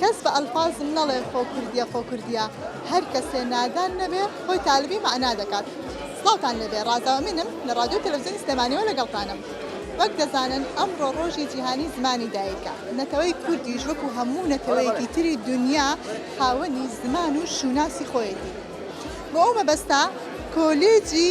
کەس بە ئەلفازم نەڵێ خۆ کوردیە خۆ کوردیە هەر کەسێ نادان نەبێ خۆی تالبی مەعنا دەکات سڵاوتان لێبێ ڕازا ئەمینم لە ڕادیۆ و تەلەفزیۆنی سلێمانیەوە لەگەڵتانم وەک دەزانن ئەمڕۆ ڕۆژی جیهانی زمانی دایکە نەتەوەی کوردیش وەکو هەموو نەتەوەیەکی تری دونیا خاوەنی زمان و شوناسی خۆیەتی بۆ ئەو مەبەستە کۆلێجی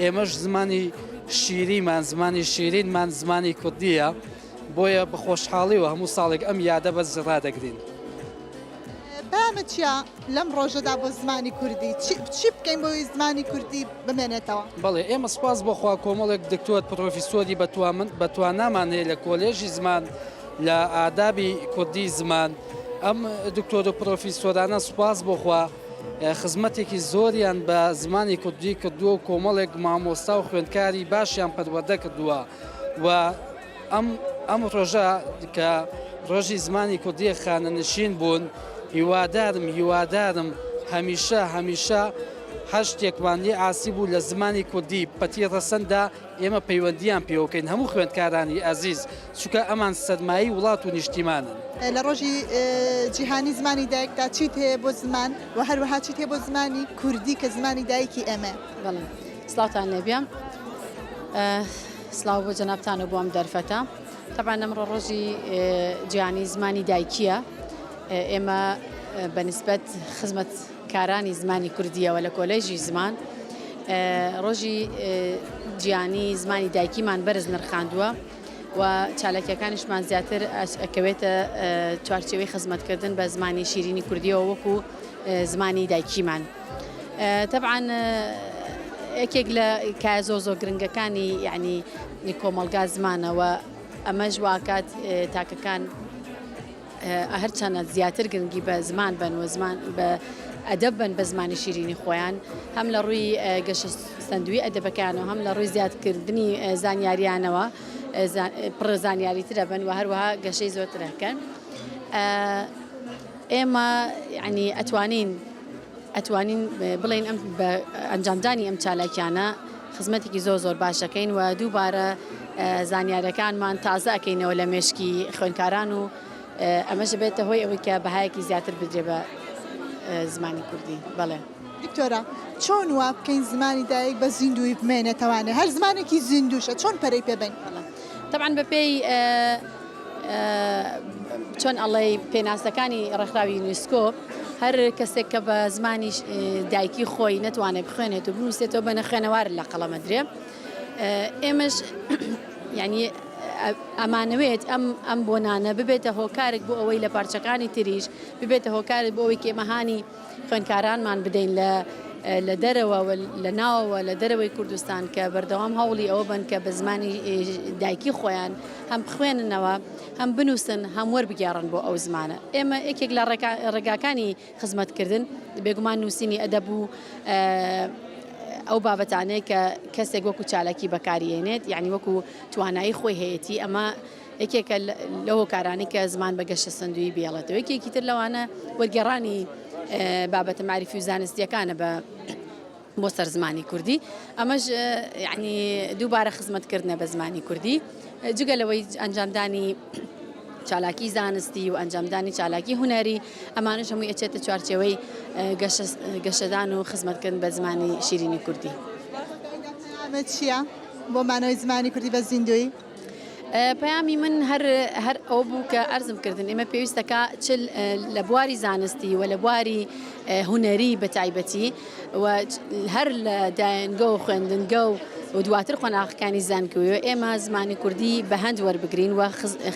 ئێمەش زمانی شیریمان، زمانی شیرینمان زمانی کوردییە، بۆیە بە خۆشحاڵییەوە هەموو ساڵێک ئەم یادە بەرز ڕادەگرین. پەیامت چییە لەم ڕۆژەدا بۆ زمانی کوردی؟ چی بکەین بۆ ئەوەی زمانی کوردی بمێنێتەوە؟ بەڵێ، ئێمە سوپاس بۆ خوا کۆمەڵێک دکتۆر، پڕۆفیسۆری بەتوانامان هەیە لە کۆلێژی زمان، لە ئادابی کوردی زمان. ئەم دکتۆر و پڕۆفیسۆرانە سوپاس بۆ خوا، خزمەتێکی زۆریان بە زمانی کوردی کردووە و کۆمەڵێک مامۆستا و خوێندکاری باشیان پەروەردە کردووە و ئەم ئەم ڕۆژە کە ڕۆژی زمانی کوردی خانەنشین بوون هیوادارم هیوادارم هەمیشە هەمیشە هەر شتێکمان لێ ئاسی بوو لە زمانی کوردی پەتی ڕەسەندا ئێمە پەیوەندییان پێوەکەین هەموو خوێندکارانی ئازیز، چونکە ئەمان سەرمایەی وڵات و نیشتیمانن. لە ڕۆژی جیهانی زمانی دایکدا چیت هەیە بۆ زمان و هەروەها چیت هەیە بۆ زمانی کوردی کە زمانی دایکی ئێمەیە؟ بەڵێ سڵاوتان لێبێ سڵاو بۆ جەنابتانە بۆ ئەم دەرفەتە تەبان ئەمڕۆ ڕۆژی جیهانی زمانی دایکیە ئێمە بەنسبەت خزمەت کارانی زمانی کوردییەوە لە کۆلێژی زمان ڕۆژی جیانی زمانی دایکیمان بەرز نرخاندووە و چالاکیەکانیشمان زیاتر ئەکەوێتە چوارچەوەی خزمەتکردن بە زمانی شیرینی کوردیەوە وەکو زمانی دایکیمان. طبعا یەکێک لە کای زۆر زۆر گرنگەکانی یعنی کۆمەلگا زمانەوە ئەمەش واکات تاکەکان هەرچەنە زیاتر گرنگی بە زمان بەن و زمان بە ئەدەب بەن بە زمانی شیرینی خۆیان هەم لە ڕووی گەشە سندوی ئەدەبەکان و هەم لە ڕووی زیادکردنی زانیاریانەوە پڕ زانیاری ترە بن و هەروەها گەشەی زۆرترەکەن ئێمە ینی ئەتوانین ئەتوانین بڵێین ئەم بە ئەنجامدانی ئەم چالاکیانە خزمەتێکی زۆر زۆر باش دەکەین و دووبارە زانیارەکانمان تازە ئەکەینەوە لە مێشکی خوێنکاران و ئەمەش بێتە هۆی ئەوەی کە بەهایەکی زیاتر بدرێ بە زمانی کوردی بەڵێ دکتۆرە چۆن وا بکەین زمانی دایک بە زیندوی بمێنێتەوانێ هەر زمانێکی زیندوشە چۆن پەرەی پێبین تەبعەن بە پێی چۆن ئەڵێی پێناسەکانی ڕێکخراوی یونیسکۆ هەر کەسێک کە بە زمانی دایکی خۆی نەتوانێت بخوێنێت و بنووسێتەوە بە نەخوێنەوار لە قەڵەمە درێ ئێمەش ینی ئەمانەوێت ئەم ئەم بۆنانە ببێتە هۆکارێک بۆ ئەوەی لە پارچەکانی تریش ببێتە هۆکارێک بۆ ئەوەی کێمەهانی خوێندکارانمان بدەین لە لە دەرەوە و لە ناوەوە لە دەرەوەی کوردستان کە بەردەوام هەوڵی ئەوە بن کە بە زمانی دایکی خۆیان هەم بخوێننەوە هەم بنووسن هەم وەربگێڕن بۆ ئەو زمانە ئێمە یەکێک لە ڕێگاکانی خزمەتکردن بێگومان نووسینی ئەدەب و ئەو بابەتانەیە کە کەسێک وەکو چالاکی بەکاریێنێت یعنی وەکو توانایی خۆی هەیەی ئەمە یەکێکە لە هۆکارانی کە زمان بە گەشە سندوی بێڵێتەوە یەکێکی تر لەوانە وەرگێڕانی بابەتە معریفی و زانستیەکانە بە بۆ سەر زمانی کوردی ئەمەش یعنی دووبارە خزمەتکردە بە زمانی کوردی جگە لەوەی ئەنجامدانی چالاکی زانستی و ئەنجامدانی چالاکی هوەری ئەمانش هەموو ئەچێتە چوارچەوەی گەشەدان و خزمەتکردن بە زمانی شیرینی کوردی. چییە؟ بۆ مانەوەی زمانی کوردی بە زیندوی پەیامی من هەر هەر ئەو بوو کە ئەرزم کردن ئێمە پێویستەکە چ لە بواری زانستی و لە بواری هوەری بە تایبەتی و هەر لە دایەنگە و خوێندنگە و و دواتر قۆناغەکانی زانکوی و ئێمە زمانی کوردی بە هەند وەربگرین و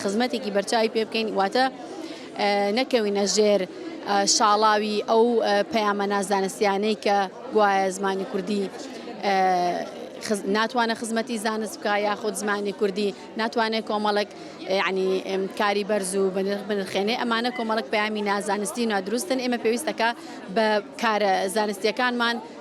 خزمەتێکی بەرچوی پێ بکەین واتە نەکەوینە ژێر شاڵاوی ئەو پەیامە نازانستیانەی کە گوایە زمانی کوردی ناتوانە خزمەتی زانست بکە یاخود زمانی کوردی ناتوانێت کۆمەڵک ینی کاری بەرز و بنرخێنێ ئەمانە کۆمەڵک پامی نازانستی نادروستن ئێمە پێویستەکە بە کارە زانستیەکانمان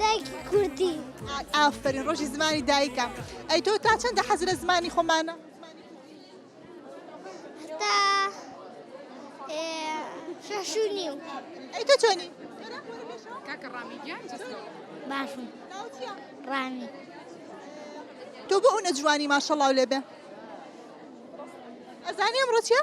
دایکی کوردی ئافرین ڕۆژی زمانی دایکە ئەی تۆ تا چەندە حەز لە زمانی خۆمانە تا شەشونی و ئەی تۆ چۆنی باشم ڕانی تۆ بۆ ئەو نەجوانی ماشەڵاو لێبێ ئەزانی ئەمڕۆ چیە؟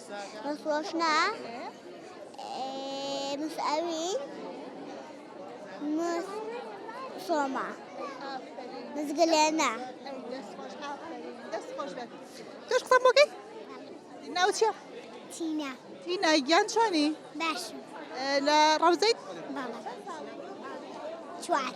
ڕۆژنا مسئوین مس سۆما مزگلێنە تۆش قسە بۆکەی ناوچە تینا تینا گیان چۆنی باش لە ڕەوزەیت چوار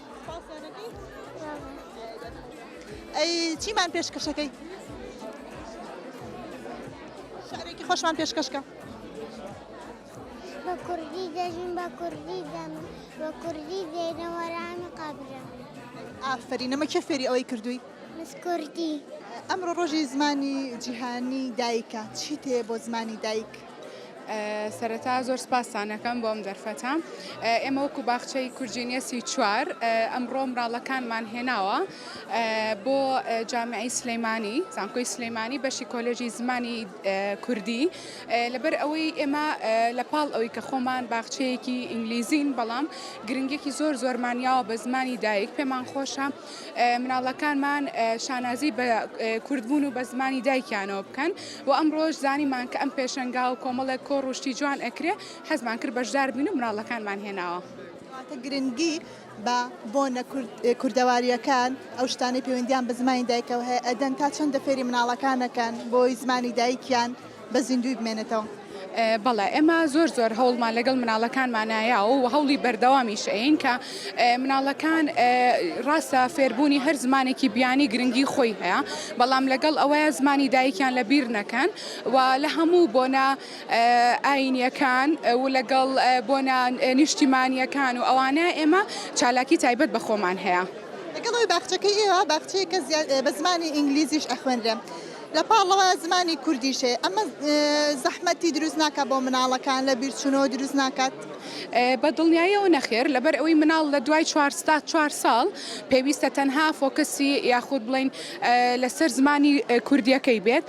ئەی چیمان پێشکەشەکەی شارێکی خۆشمان پێشکەشکە بە کوردی دەژین بە کوردی دەم بە کوردی دێنەوەرانی قابرم ئافری نەمە کێ فێری ئەوەی کردووی مسکردی ئەمڕۆ ڕۆژی زمانی جیهانی دایکە چی تێ بۆ زمانی دایک سەرەتا زۆر سپاستانەکەم بۆ ئەم دەرفەتە ئێمە وەکو باخچەی کورجینیە سی چوار ئەمڕۆ مراڵەکانمان هێناوە بۆ جامعی سلەیمانی زانکۆی سلەیمانی بەشی کۆلێژی زمانی کوردی لەبەر ئەوەی ئێمە لە پاڵ ئەوی کە خۆمان باخچەیەکی ئینگلیزین بەڵام گرنگێکی زۆر زۆرمانیاوە بە زمانی دایک پێمان خۆشە مناڵەکانمان شانازی بە کوردبوون و بە زمانی دایکیانەوە بکەن و ئەمڕۆش زانیمان کە ئەم پێشەنگا و کۆمەڵێک کۆڕ و شتی جوان ئەکرێ حەزمان کرد بەشدار بین و مناڵەکانمان هێناوە. کەواتە گرنگی بە بۆنە کوردەوارییەکان، ئەو شتانەی پەیوەندییان بە زمانی دایکەوە هەیە ئەدەن، تا چەندە فێری مناڵەکان ئەکەن بۆی زمانی دایکیان بە زیندووی بمێنێتەوە. بەڵێ ئێمە زۆر زۆر هەوڵمان لەگەڵ مناڵەکانمانایە و هەوڵی بەردەوامیش ئەین کە مناڵەکان ڕاستە فێربوونی هەر زمانێکی بیانی گرنگی خۆی هەیە بەڵام لەگەڵ ئەوەیە زمانی دایکیان لە بیر نەکەن و لە هەموو بۆنە ئاینیەکان و لەگەڵ بۆنە نیشتیمانیەکان و ئەوانە ئێمە چالاکی تایبەت بە خۆمان هەیە. لەگەڵەوەی باخچەکەی ئێوە باخچەیەکە بە زمانی ئینگلیزیش ئەخوێنرێ. لە پاڵەوە زمانی کوردیش هەیە ئەمە زەحمەتی دروست ناکات بۆ مناڵەکان لە بیرچوونەوە دروست ناکات؟ بە دڵنیایەوە نەخێر لەبەر ئەوەی مناڵ لە دوای چوار تا چوار ساڵ پێویستە تەنها فۆکەسی یاخود بڵێن لەسەر زمانی کوردیەکەی بێت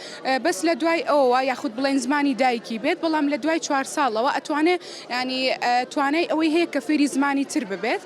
بەس لە دوای ئەوە یاخود بڵێن زمانی دایکی بێت بەڵام لە دوای چوار ساڵەوە ئەتوانێت ینی توانای ئەوەی هەیە کە فێری زمانی تر ببێت.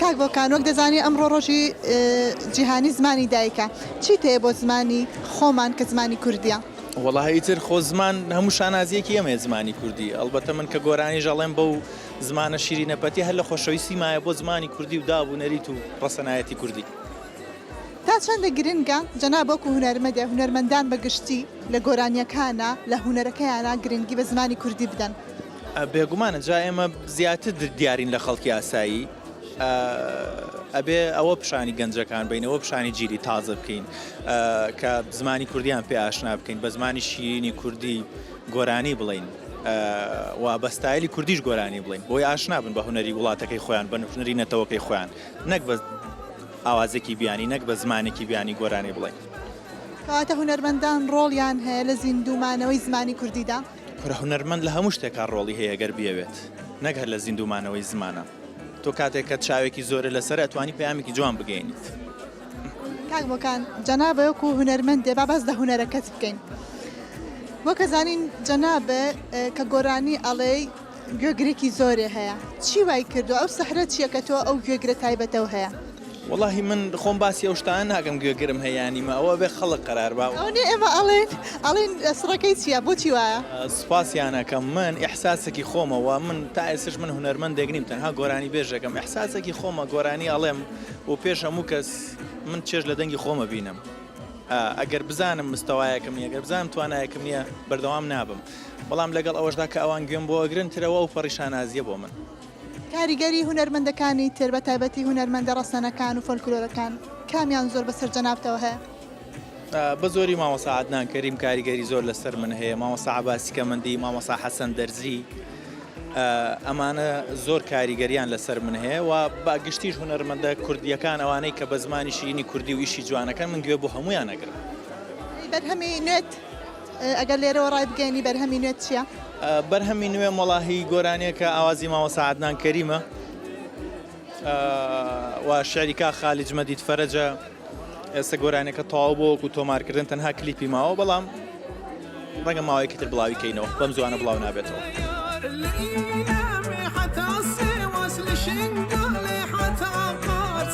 کاک بۆکان وەک دەزانی ئەمڕۆ ڕۆژی جیهانی زمانی دایکە چیت هەیە بۆ زمانی خۆمان کە زمانی کوردیە؟ وەڵا ئیتر خۆ زمان هەموو شانازیەکی ئەمەیە زمانی کوردی ئەڵبەتە من کە گۆرانیش ئەڵێم بەو زمانە شیرینە پەتی هەر لە خۆشەویستی مایە بۆ زمانی کوردی و داب و نەریت و ڕەسەنایەتی کوردی. تا چەندە گرنگە جەناب وەکو هونەرمەدە هونەرمەندان بە گشتی لە گۆرانیەکانا لە هونەرەکەیانا گرنگی بە زمانی کوردی بدەن؟ بێگومانە جا ئێمە زیاتر دیارین لە خەڵکی ئاسایی ئەبێ ئەوە پیشانی گەنجەکان بینەوە پیشانی جیلی تازە بکەین کە زمانی کوردیان پێ ئاشنا بکەین بە زمانی شیرینی کوردی گۆرانی بڵین و بەستایلی کوردیش گۆرانی بڵین بۆی ئاشنا بن بە هوەری وڵاتەکەی خۆیان بە نوژنەری نەتەوەکەی خۆیان نەک بە ئاوازێکی بیانی نەک بە زمانێکی بیانی گۆرانی بڵێن کەواتە هوەرمەندان ڕۆڵیان هەیە لە زیندومانەوەی زمانی کوردیدا. کورە هونەرمەند لە هەموو شتێکا ڕۆڵی هەیە گەر بیەوێت نەک هەر لە زیندوو مانەوەی زمانا تۆ کاتێک کە چاوێکی زۆرە لەسەر ئەتوانی پەیامێکی جوان بگەینیت. کاک بۆکان جەنابت وەکو هونەرمەندێ با باس لە هونەرەکەت بکەین وەک ئەزانین جەنابت کە گۆرانی ئەڵێی، گوێگرێکی زۆرێ هەیە چی وای کردوە ئەو سحرە چیە کە تۆ ئەو گوێگرە تایبەتەو هەیە. وەڵاهی من خۆم باسی ئەو شتانە ناکەم گوێگرم هەیە یان نیمە ئەوە ئەبێ خەڵک قەرار با. ئەوە نیە ئێمە ئەڵێین ئەڵێین سڕەکەی چیە بۆچی وایە. سوپاسیان ئەکەم من ئیحساسەکی خۆمە وە من تا ئێستش من هونەرمەندێک نیم تەنها گۆرانی بێژێکم ئیحساسەکی خۆمە گۆرانی ئەڵێم و پێش هەموو کەس من چێژ لە دەنگی خۆم ئەبینم ئەگەر بزانم مستەوایەکم نیە گەر بزانم توانایەکم نیە بەردەوام نابم. بەڵام لەگەڵ ئەوەشدا کە ئەوان گوێم بۆ ئەگرن ترەوە ئەوپەڕی شانازییە بۆ من. کاریگەری هونەرمەندەکانی تر بە تایبەتی هونەرمەندە ڕەسەنەکان و فۆلکلۆرەکان کامیان زۆر بەسەر جەنابتەوە هەیە؟ بە زۆری مامۆستا عەدنان کەریم کاریگەری زۆر لەسەر من هەیە، مامۆستا عەباسی کەمەندی، مامۆستا حەسەن دەرزی ئەمانە زۆر کاریگەریان لەسەر من هەیە و بە گشتیش هونەرمەندە کوردییەکان ئەوانەی کە بە زمانی شیرینی کوردی و ئیشی جوان ئەکەن من گوێ بۆ هەموویان ئەگرم. بەرهەمی نوێت ئەگەر لێرەوە ڕای بگەیەنی بەرهەمی نوێت چیە؟ بەرهەمی نوێم وەڵا هی گۆرانیەکە ئاوازی مامۆسا عەدنان کەریمە و شعری کا خالج مەدید فەرەجە ئێستا گۆرانەکە تەواو بۆ وەکو تۆمارکردن تەنها کلیپی ماوە بەڵام ڕەنگە ماوەیەکی تر بڵاوی کەینەوە بەم زوانە بڵاو نابێتەوە.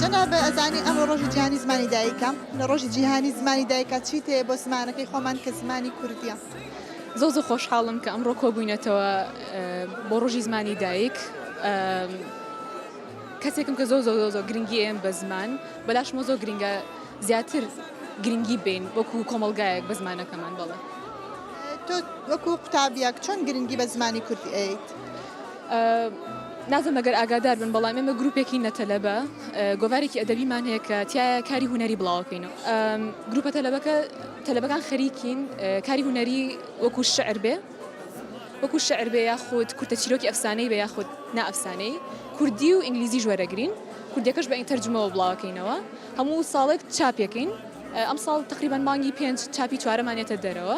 جەناب ئەزانی ئەمڕۆ ڕۆژی جیهانی زمانی دایکە لە ڕۆژی جیهانی زمانی دایکە چی تێ بۆ زمانەکەی خۆمان کە زمانی کوردیە زۆ زۆ خۆشحاڵم کە ئەمڕۆ کۆبووینەتەوە بۆ ڕۆژی زمانی دایک کەسێکم کە زۆ زۆ زۆ زۆ گرنگی ئێم بە زمان بەلاشمە زۆ گرنگە زیاتر گرنگی بین وەکو کۆمەلگایەک بە زمانەکەمان بڵێ تۆ وەکو قوتابیەک چۆن گرنگی بە زمانی کوردی ئەیت؟ نازانم گەر ئاگادار بن، بەڵام ئێمە گروپێکی نە تەلەبە گۆڤارێکی ئەدەبیمان هەیە کە تایە کاری هونەری بڵاوکەین و گروپە تەلەبەکە تەلەبەکان خەریکین کاری هونەری وەکو شعر بێ وەکو شعر بێ یاخود کورتە چیرۆکی ئەفسانەی بە یاخود نا ئەفسانەی کوردی و ئینگلیزی ژوەرەگرین کوردەکەش بە ئینتەرجمەوە بڵاوکەینەوە هەموو ساڵێک چاپێکین ئەم ساڵ تقریبان مانگی پێنج چاپی چوارەمانێتە دەرەوە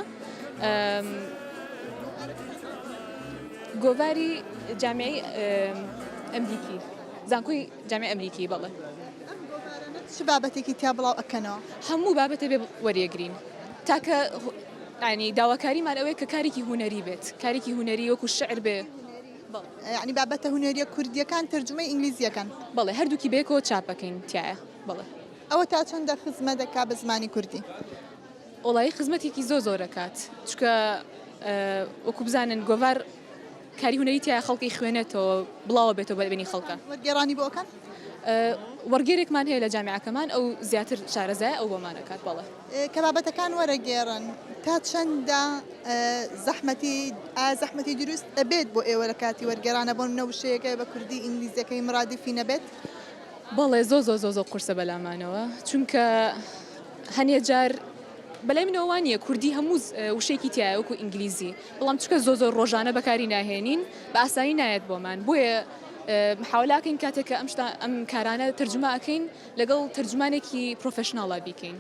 گۆڤاری جامعەی ئەمریکی، زانکۆی جامعەی ئەمریکی بەڵێ. ئەم گۆڤارانە چ بابەتێکی تیا بڵاو ئەکەنەوە؟ هەموو بابەتێ بێ وەریەگرین تاکە یانی داواکاریمان ئەوەیە کە کارێکی هونەری بێت کارێکی هونەری وەکو شعر بێ بەڵێ. یانی بابەتە هونەریە کوردیەکان تەرجومەی ئینگلیزی ئەکەن؟ بەڵێ هەردووکی بەیەکەوە چاپ ئەکەین تیایا بەڵێ. ئەوە تا چەندە خزمەت ئەکا بە زمانی کوردی؟ وەڵایی خزمەتێکی زۆر زۆر ئەکات چونکە وەکو بزانن گۆڤار کاری هونەری تیا خەڵکی خوێنێتەوە بڵاوە بێتەوە بەلبێنی خەڵکە گێرانی بۆکەن وەرگێرێکمان هەیە لە جامیعەکەمان ئەو زیاتر شارەزای ئەو بۆمانەکات بەڵێ کە بابەتەکان وەرەگێڕن تا چەندە زەحمەتی زەحمەتی دروست ئەبێت بۆ ئێوە لە کاتی وەرگێرانە بۆن نەوشەیەەکە بە کوردی ئینگلیزیەکەی مرادفی نەبێت بەڵێ زۆ زۆ زۆ زۆ قورسە بەلامانەوە چونکە هەنێ جار بەلای منەوە وانە کوردی هەموو وشێکی تایوەکو ئینگلیزی بەڵام چکە زۆ زۆر ڕۆژانە بەکاری ناهێنین بە ئاسایی نایەت بۆمان بۆیە حولاکەین کاتێککە ئەم ئەم کارانە تەرجمەکەین لەگەڵ تەرجمانێکی پرۆفشنناڵا بیکەین.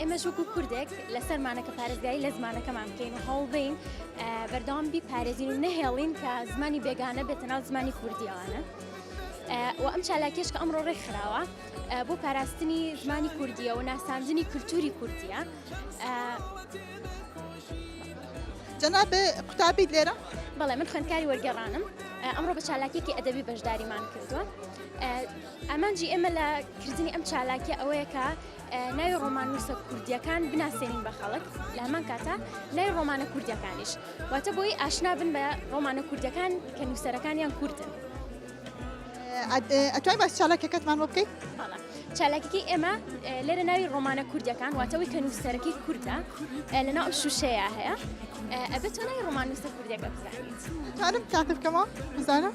ئێمەش وەکو کوردێک لەسەرمانە کە پارێزگای لە زمانەکەمان بکەین و هەوڵدەین بەردەوام بی پارێزین و نەهێڵین کە زمانی بێگانە بێتە ناو زمانی کوردیەوانە. و ئەم چالاکیش کە ئەمڕۆ ڕێک خراوە بۆ پاراستنی زمانی کوردیە و ناساندنی کولتوری کوردیە جەناب قوتابیت لێرە بەڵێ من خوێندکاری وەرگێڕانم ئەمڕۆ بە چالاکیێکی ئەدەبی بەشداریمان کردووە ئامانجی ئێمە لە کردنی ئەم چالاکیە ئەوەیە کە ناوی ڕۆماننووسە کوردییەکان بناسێنین بە خەڵک لە هەمان کاتە ناوی ڕۆمانە کوردیەکانیش واتە بۆی ئاشنا بن بە ڕۆمانە کوردیەکان کە نووسەرەکانیان کوردن ئەتوای باس چالاکەکەتمان بۆ بکەیت چالاکیکی ئێمە لێرە ناوی ڕۆمانە کوردەکان واتەوەی کە نووسەرەکەی کوردە لەناو شوشەیە هەیە ئەبێت چۆنای ڕۆمانوسە کوردەکە بزانیت تاکەکەمە بزانم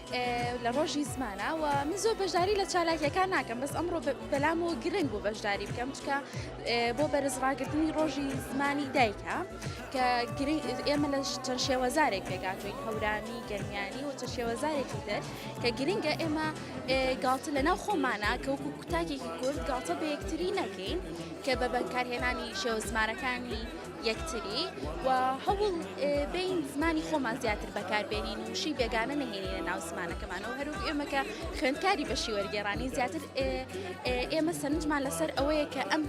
لە ڕۆژی زمانە و من زۆر بەشداری لە چالاکیەکان ناکەم بەس ئەمڕۆ بەلام و گرنگ بۆ بەشداری بکەم چکە بۆ بەرزڕاگرتنی ڕۆژی زمانی دایکە کە ئێمە لە چەند شێوەزارێک پێگاتوین هەورامی گەرمیانی و چە شێوەزارێکی تر کە گرنگە ئێمە گاڵتە لە ناو خۆمانە کەوکو کوتاکێکی کورد گاڵتە بە یەکتری نەکەین کە بە بەکارهێنانی شێوە زمانەکانی یەکتری و هەوڵ بین زمانی خۆمان زیاتر بەکاربێنین و شی بێگانە نهێنینە ناو زمانەکەمانەوە هەروک ئێمەکە خوێندکاری بەشی وەرگێرانی زیاتر ئێمە سەرنجمان لەسەر ئەوەیە کە ئەم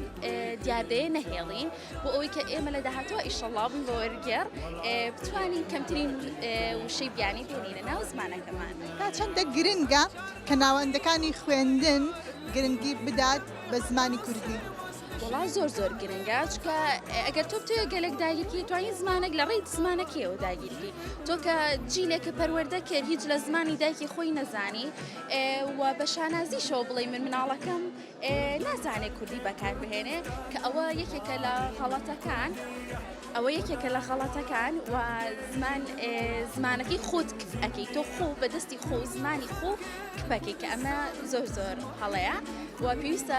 دیاردەیە نەهێڵین بۆ ئەوەی کە ئێمە لە داهاتوە ئیشەڵاوبووین بە وەرگێر بتوانین کەمترین وشەی بیانی بێنینە ناو زمانەکەمان تا چەندە گرنگە کە ناوەندەکانی خوێندن گرنگی بدات بە زمانی کوردی. وەڵا زۆر زۆر گرنگە چکە ئەگەر تۆ بتوێت گەلک داگیرکی توانین زمانێک لە ڕێیت زمانەکەیەوە داگیرکی تۆ کە جیلێک کە پەروەەردە کرد هیچ لە زمانی دایکی خۆی نەزانی و بە شانازی شەو بڵێ من مناڵەکەم نازانێ کوردی بەکار بهێنێ کە ئەوە یەکێکە لە خەڵەتەکان ئەوە یەکێکە لە خەڵەتەکان و زمان زمانەکەی خۆت ئەەکەی تۆ خۆ بەدەستی خۆ زمانی خۆ کپەکەی کە ئەمە زۆر زۆر هەڵەیە و پێویستە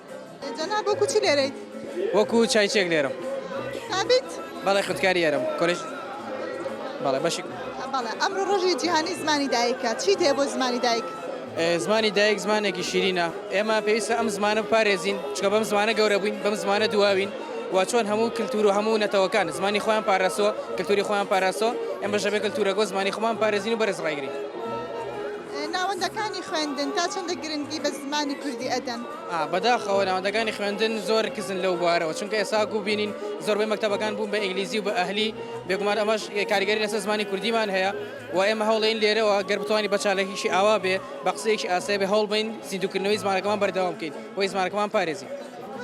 جەناب وەکو چی لێرەیت؟ وەکو چایچێک لێرەم. سابیت؟ بەڵێ خوێندکاری ئێرەم کۆلێژ بەڵێ بەشی بەڵێ ئەمڕۆ ڕۆژی جیهانی زمانی دایکە چیت هەیە بۆ زمانی دایک؟ زمانی دایک زمانێکی شیرینە ئێمە پێویستە ئەم زمانە بپارێزین چکە بەم زمانە گەورە بووین بەم زمانە دواوین و چۆن هەموو کللتور و هەموو نەتەوەکان زمانی خۆیان پاراستووە کللتوری خۆیان پاراستەوە ئێمە ژەبێ کللتورەگۆ زمانی خۆمان پارێزین و بەرز ڕایگرین. ناوەندەکانی خوێندن تا چەندە گرنگی بە زمانی کوردی ئەدەن؟ بەداخەوە ناوەندەکانی خوێندن زۆر کزن لەو بوارەوە چونکە ئێستا وەکو بینین زۆربەی مەکتەبەکان بوون بە ئینگلیزی و بە ئەهلی بێگومان ئەمەش کاریگەری لەسەر زمانی کوردیمان هەیە و ئێمە هەوڵین لێرەوە گەر بتوانین بە چالاکیشی ئاوا بێ بە قسەیەکی ئاسایی بێ هەوڵ بین زیندووکردنەوەی زمانەکەمان بەردەوام بکەین بۆی زمانەکەمان پارێزین.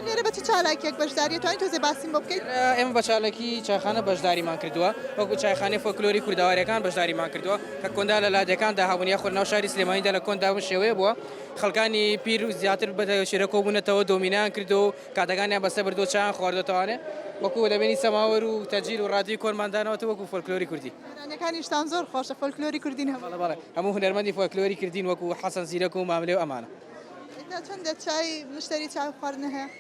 لێرە بە چ چالاکییەک بەشداریت توانی تۆزێ باسیم بۆ بکەیت؟ ئێمە بە چالاکی چایخانە بەشداریمان کردووە وەکو چایخانەی فۆلکلۆری کوردەوارییەکان بەشداریمان کردووە کە کۆندا لە لادێکاندا هەبوون یاخود لەناو شاری سلێمانیدا لە کۆندا بەم شێوەیە بووە خەڵکانی پیر و زیاتر بە تەوێشێرە کۆبوونەتەوە، دۆمینەیان کردووە و کاتەکانیان بەسەر بردووە، چایان خواردووەتەوە، ئەوانێ وەکوو دەبینی سەماوەر و تەجیل و ڕادیۆی کۆنمان داناوەتەوە وەکوو فۆلکلۆری کوردی. گۆرانیەکانیشتان زۆر خۆشە، فۆلکلۆری کوردین هەموو. بەڵێ بەڵێ، هەموو هونەرمەندی فۆلکلۆری کردین وەکوو حەسەن زیرەک و ماملێ و ئەمانە. ئێستا چەندە چای، مشتەری چای خواردنە هەیە؟